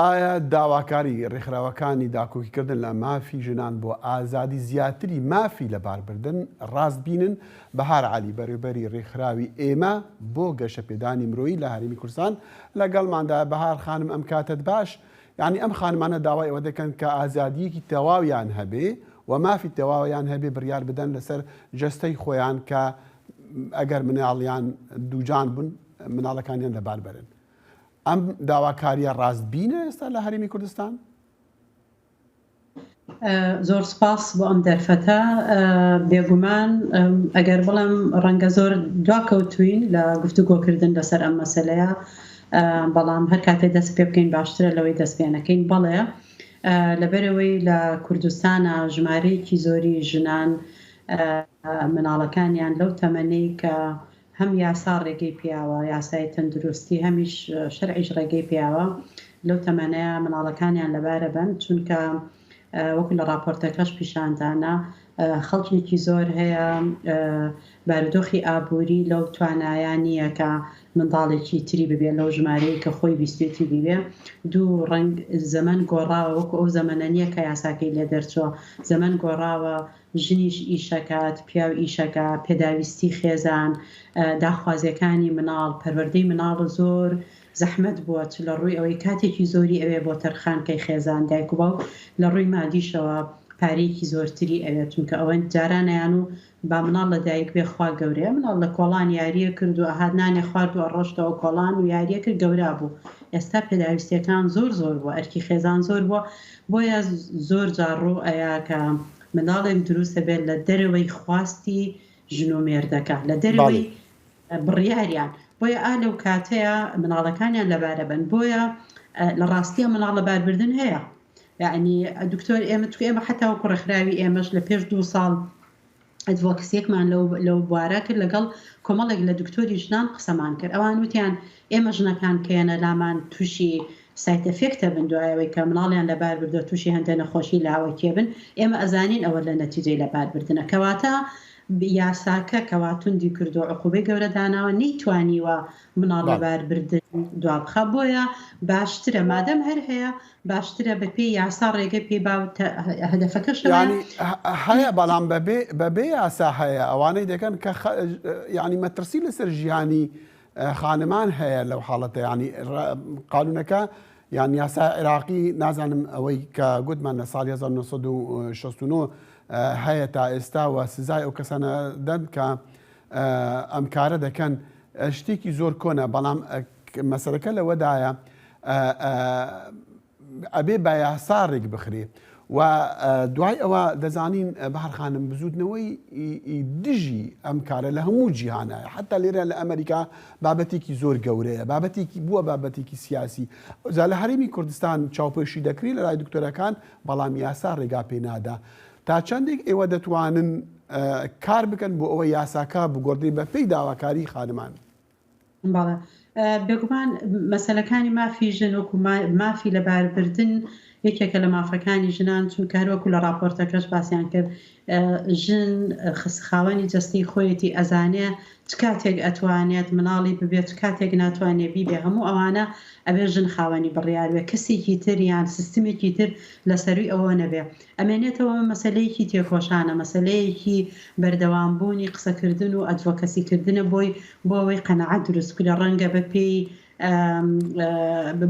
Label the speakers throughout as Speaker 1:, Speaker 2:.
Speaker 1: ئایا داواکاری ڕێکخراوەکانی داکۆکیکردن لە مافی ژنان بۆ ئازادی زیاتری مافی لەباربردن ڕاست بینن؟ بەهار عەلی، بەڕێوبەری ڕێکخراوی ئێمە بۆ گەشەپێدانی مرۆیی لە هەرێمی کوردستان لەگەڵماندایە، بەهار خانم ئەم کاتەت باش، یانی ئەم خانمانە داوای ئەوە دەکەن کە ئازادییەکی تەواویان هەبێ و مافی تەواویان هەبێ بڕیار بدەن لەسەر جەستەی خۆیان کە ئەگەر مناڵیان دووجان بوون مناڵەکانیان لەباربەرن. ئەم داواکاریە ڕاستبینە ئێستا لە هەرێمی کوردستان؟
Speaker 2: زۆر سپاس بۆ ئەم دەرفەتە بێگومان ئەگەر بڵم ڕەنگە زۆر دواکەوتوین لە گفتوگۆکردن لەسەر ئەم مەسلەیە بەڵام هەر کاتێ دەست پێ بکەین باشترە لەوەی دەست پێەکەین بەڵێ لەبەرەوەی لە کوردستانە ژمارەیەکی زۆری ژنان مناڵەکانیان لەو تەمەەی کە هەم یاسا ڕێگەی پێیاوە یاسای تەندروستی هەمیش شەرعیش ڕێگەی پێیاوە لەو تەمەنەیا مناڵەکانیان لەبارە بەن چونکە وەکو لە ڕاپۆرتەکەش پیشاندانە خەڵکێکی زۆر هەیە بارودۆخی ئابووری لەو توانایان نییە کە منداڵێکی تری ببێت لەو ژمارەیە کە خۆی بیستێتی بیبێ دوو ڕنگ زەمن گۆڕاوە وەکو ئەو زەمەە نییە کە یاساکەی لێ دەرچووە زەمن گۆڕاوە ژنیش ئیشەکات، پیاو ئیشەکا، پێداویستی خێزان، داخوازیەکانی مناڵ، پەروەردەی مناڵ زۆر زەحمەت بووە چ لە ڕووی ئەوەی کاتێکی زۆری ئەوێ بۆ تەرخانکەی خێزان، دایک و باوک لە ڕووی مادیشەوە پارەیەکی زۆرتری ئەوێت چونکە ئەوەند جاران ئەیان و با مناڵ لە دایک بێ خوا گەورەیە مناڵ لە کۆڵان یاریە کرد و ئەهات نانێ خوارد و ئەڕۆشتەوە کۆڵان و یاریە کرد گەورا بوو ئێستا پێداویستیەکان زۆر زۆر بووە ئەرکی خێزان زۆر بووە بۆیە زۆر جار ڕوو ئەیا کە منداڵێک دروست دەبێت لە دەرەوەی خواستی ژن و مێردەکە لە دەرەوەی بڕیاریان بۆیە ئا لەو کاتەیە مناڵەکانیان لەبارە بن بۆیە لە ڕاستیە مناڵ لە باربردن هەیە یعنی دکتۆر ئێمە تو ئێمە حتاوە کوڕەخراوی ئێمەش لە پێش دوو ساڵ ئەدڤۆکسیەکمان لەو بوارە کرد لەگەڵ کۆمەڵێک لە دکتۆری ژنان قسەمان کرد ئەوان وتیان ئێمە ژنەکان کەیەنە لامان تووشی سایتەفێکتە بن دوایەوەی کە مناڵیان لەبار بردو تووشی هەندێ نەخۆشی لاوەکیێ بن ئێمە ئەزانین ئەوە لە نەتیجەی لەبار بردنە کەواتە یاساکە کەواتوندی کردو عقوبەی گەورە داناوە نەیتوانیوە مناڵ لەبار بردن دوابخە بۆیە باشترە مادەم هەر هەیە باشترە بە پێی یاسا ڕێگە پێ با و تە هەدەفەکەش ئەوەیە.
Speaker 1: یانی هەیە بەڵام بە بێ بە بێ یاسا هەیە ئەوانەی دەکەن کە خە یانی مەترسی لەسەر ژیانی خانمان هەیە لەو حاڵەتە یانی ڕە قانوونەکە یان یاسا عێراقی نازانم ئەوەی کە گوتمان لە ساڵی 1969 هەیە تا ئێستا و سزای ئەو کەسانە دەن کە ئەم کارە دەکەن شتێکی زۆر کۆنە بەڵام مەسەلەکە لەوەدایە ئەبێ بە یاسا ڕێک بخرێ و دوای ئەوە دەزانین بەهر خانم بزوتنەوەی دژی ئەم کارە لە هەموو جیهانە حتا لێرە لە ئەمریکا بابەتێکی زۆر گەورەیە بابەتێکی بووە بابەتێکی سیاسی ئەوزا لە هەرمی کوردستان چاوپێشی دەکری لە لای دکتۆرەکان بەڵام یاسا ڕێگا پێنادا تا چەندێک ئێوە دەتوانن کار بکەن بۆ ئەوە یاساکە بگۆڕدەی بە پێی داواکاری خانمان بەڵێ
Speaker 2: بێگومان مەسەلەکانی مافی ژن وەکو مافی لەباربردن یەکێکە لە مافەکانی ژنان چونکە هەروەکو لە راپۆرتەکەش باسییان کرد ژن خسخاوەنی جستی خۆیەتی ئەزانێ چ کاتێک ئەتوانێت مناڵی ببێت کاتێک ناتوانێت بیبێ هەموو ئەوانە ئەبێ ژن خاوەنی بڕیاروێ کەسێکی تریان سیستمێکی تر لە سەروی ئەوە نەبێ ئەمێنێتەوە ئەمە مەسەلەیەکی تێکۆشانە، مەسەلەیەکی بەردەوام بوونی قسەکردن و ئەدڤۆکەسی کردنە بۆی بۆ ئەوەی قەناعەت دروست بکرێت، ڕەنگە بە پێی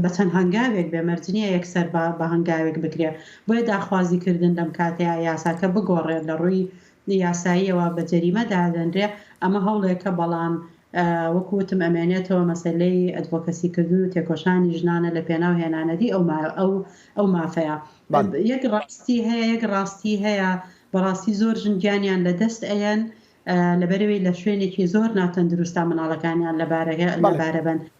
Speaker 2: بە چەند هەنگاوێک بێ مەرج نییە یەکسەر بە هەنگاوێک بکرێت، بۆیە داخوازی کردن لەم کاتەیا یاساکە بگۆڕێت لە ڕووی یاساییەوە بە جەریمە دادەنرێ، ئەمە هەوڵێکە بەڵام وەکو وتم ئەمێنێتەوە مەسەلەی ئەدڤۆکەسی کردن و تێکۆشانی ژنانە لە پێناو هێنانەدی ئەو مافەیە. یەک ڕاستی هەیە یەک ڕاستی هەیە بەڕاستی زۆر ژن گیانیان لە دەست ئەیەن لەبەرئەوەی لە شوێنێکی زۆر ناتەندروستا منداڵەکانیان لەبارەبەن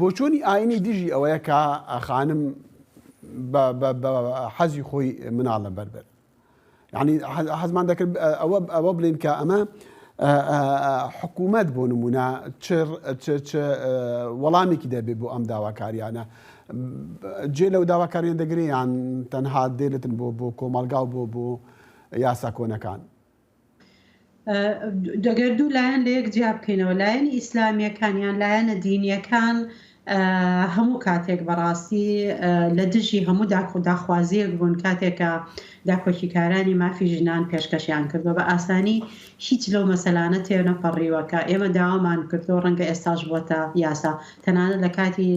Speaker 1: بۆچوونی ئاینی دژی ئەوەیە کە خانم بە حەزی خۆی مناڵ لە بەربەر یعنی حەزمان دەکرد ئەوە ئەوە بڵین کە ئەمە حکوومەت بۆ نمونە وەڵامێکی دەبێ بۆ ئەم داواکاریانە جێ لەو داواکاریان دەگریان تەنها دێلتن بۆ بۆ کۆمەلگا و بۆ بۆ یاسا کۆنەکان
Speaker 2: گەر دوو لایەن لە یەک جیا بکەینەوە لایەنی ئیسلامیەکان یان لایەنە دینیەکان هەموو کاتێک بەڕاستی لە دژی هەموو داکو داخوازیەک بوون کاتێکە داکۆکیکارانی مافی ژنان پێشکەشیان کردو بە ئاسانی هیچ لەو مەسەلانە تێنەپەڕیوەکە ئێمە داوامان کردو ڕەنگە ئێستاش بووەتە یاسا تەنانە لە کاتی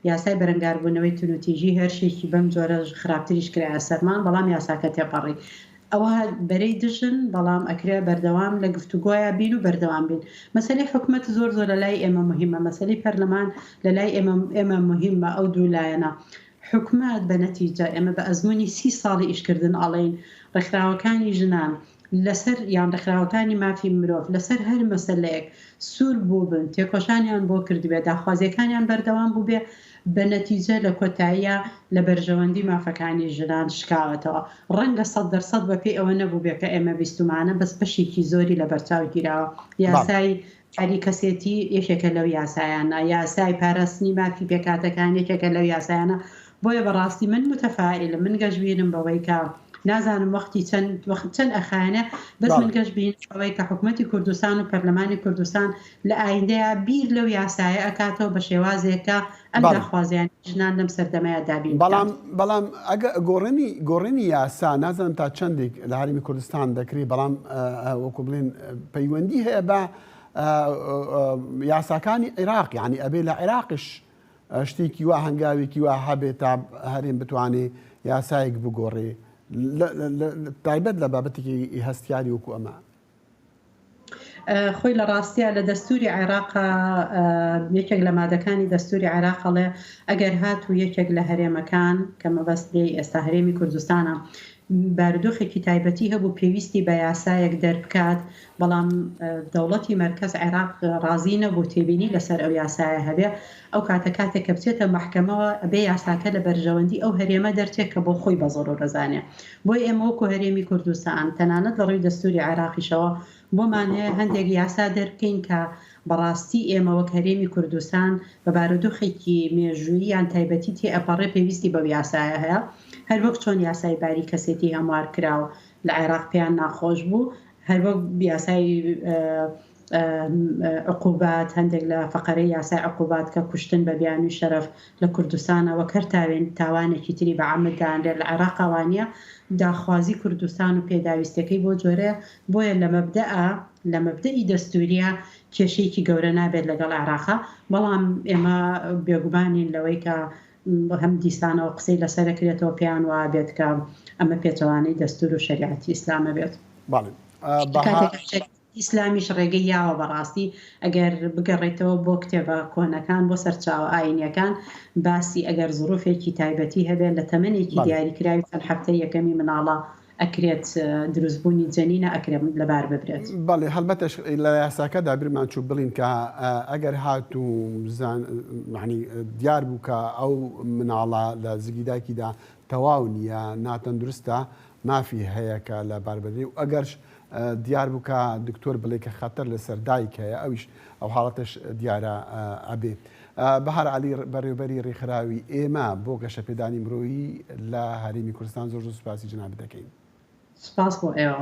Speaker 2: یاسای بەرەنگاربوونەوەی تونوتیژی هێرشێکی بەم جۆرە خراپتریش کرایە سەرمان بەڵام یاساکە تێپەڕی ئەوە بەرەی دژن بەڵام ئەکرێ بەردەوام لە گفتوگۆیا بین و بەردەوام بین مەسەلەی حکومەت زۆر زۆر لەلای ئێمە موهیمە مەسەلەی پەرلەمان لەلای ئێمە ئێمە موهیمە ئەو دوو لایەنە حکومەت بە نەتیجە ئێمە بە ئەزمونی سی ساڵی ئیشکردن ئەڵێین ڕێکخراوەکانی ژنان لەسەر یان ڕێکخراوەکانی مافی مرۆڤ لەسەر هەر مەسەلەیەک سوور بووبن تێکۆشانیان بۆ کردبێ داخوازیەکانیان بەردەوام بووبێ بە نەتیجە لە کۆتاییا لە بەرژەوەندی مافەکانی ژنان شکاوەتەوە. ڕەنگە سەد دەر سەد بە پێی ئەوە نەبووبێ کە ئێمە بیستومانە بەس بەشێکی زۆری لە بەرچاو گیراوە. یاسای یاری کەسێتی یەکێکە لەو یاسایانە. یاسای پاراستنی مافی پێکهاتەکان یەکێکە لەو یاسایانە. بۆیە بە ڕاستی من متفائیلم. من گەشبینم بەوەی کە نازانم وەختی چەند وەخت چەند ئەخایەنێ بەس من گەشبینم بەوەی کە حکومەتی کوردستان و پەرلەمانی کوردستان لە ئایندەیا بیر لەو یاسایە ئەکاتەوە بە شێوازێک کە ئەم بەڵێ. داخوازیانەی ژنان لەم سەردەمەیا دابین بەڵام بکات. بەڵام
Speaker 1: ئەگە گۆڕینی گۆڕینی یاسا نازانم تا چەندیک لە هەرێمی کوردستان دەکری بەڵام ئە وەکو بڵێن پەیوەندی هەیە بە ئە ئە یاساکانی عیراق یعنی ئەبێ لە عیراقش ئە شتێکی وا هەنگاوێکی وا هەبێ تا هەرێم بتوانێ یاسایەک بگۆڕێ لە لە لە تایبەت لە بابەتێکی هەستیاری وەکو ئەمە.
Speaker 2: خۆی لە ڕاستیا لە دەستوری عێراقا یەکێک لە مادەکانی دەستوری عێراق ئەڵێ ئەگەر هات و یەکێک لە هەرێمەکان کە مەبەست لێی ئێستا هەرێمی کوردستانە بارودۆخێکی تایبەتی هەبوو پێویستی بە یاسایەک دەربکات بەڵام دەوڵەتی مەرکەز عێراق ڕازی نەبوو تێبینی لەسەر ئەو یاسایە هەبێ ئەو کاتە کاتێک کە بچێتە مەحکەمەوە ئەبێ یاساکە لە بەرژەوەندی ئەو هەرێمە دەرچێ کە بۆ خۆی بە زۆرو دەزانێ. بۆی ئێمە وەکو هەرێمی کوردستان تەنانەت لە ڕوی دەستوری عێراقیشەوە بۆمان هەیە هەندێک یاسا دەربکەین کە بە ڕاستی ئێمە وەک هەرێمی کوردستان بە بارودوخێکی مێژوویی یان تایبەتی تێ ئەپەڕێ پێویستی بەو یاسایە هەیە هەر وەک چۆن یاسای باری کەسێتی هەموار کراو لە عێراق پێیان ناخۆش بوو هەر وەک یاسای عقوبات، هەندێک لە فەقەرەی یاسای عقوبات کە کوشتن بە بیانووی شەرەف لە کوردستانە وەک هەر تاوێن تاوانێکی تری بە عەمد دانرێت لە عێراق ئەوا نییە، داخوازی کوردستان و پێداویستیەکەی بۆ جۆرەیە، بۆیە لە مەبدئ لە مەبدئی دەستووریە کێشەیەکی گەورە نابێت لەگەڵ عێراق، بەڵام ئێمە بێگومان نین لەوەی کە هەم دیسانەوە قسەی لەسەر ئەکرێتەوە پێیان وابێت کە ئەمە پێچەوانەی دەستوور و شەریعەتی ئیسلامە بێت. بەڵێ. کاتێک ئیسلامیش ڕێگەی یاوە بەڕاستی ئەگەر بگەڕێیتەوە بۆ کتێبە کۆنەکان بۆ سەرچاوە ئاینیەکان باسی ئەگەر زڕوفێکی تایبەتی هەبێت لە تەمەنێکی دیاری کراوی چەند حەفتەی یەکەمی مناڵە ئەکرێت دروست بوونی جەنینە ئەکرێت لەبار ببرێت. بەڵی هەڵبەتەش
Speaker 1: لە یاساکەدا بیرمان چوو بڵین کە ئەگەر هاتوو زان مەعنی دیار بوو کە ئەو مناڵە لە زگی دایکیدا تەواو نیە ناتەندروستە مافی هەیە کە لە بار بنرێ و ئەگەرش دیار بوو کە دکتۆر بڵێ کە خەتەر لە سەر دایک هەیە ئەویش ئەو حاڵەتەش دیارە ئەبێ. بەهار عەلی بەڕێوبەری رێکخراوی ئێمە بۆ گەشەپێدانی مرۆیی لە هەرێمی کوردستان زۆر زۆر سوپاسی
Speaker 2: جەنابت
Speaker 1: دەکەین. سپاس
Speaker 2: بۆ
Speaker 1: ئێوە.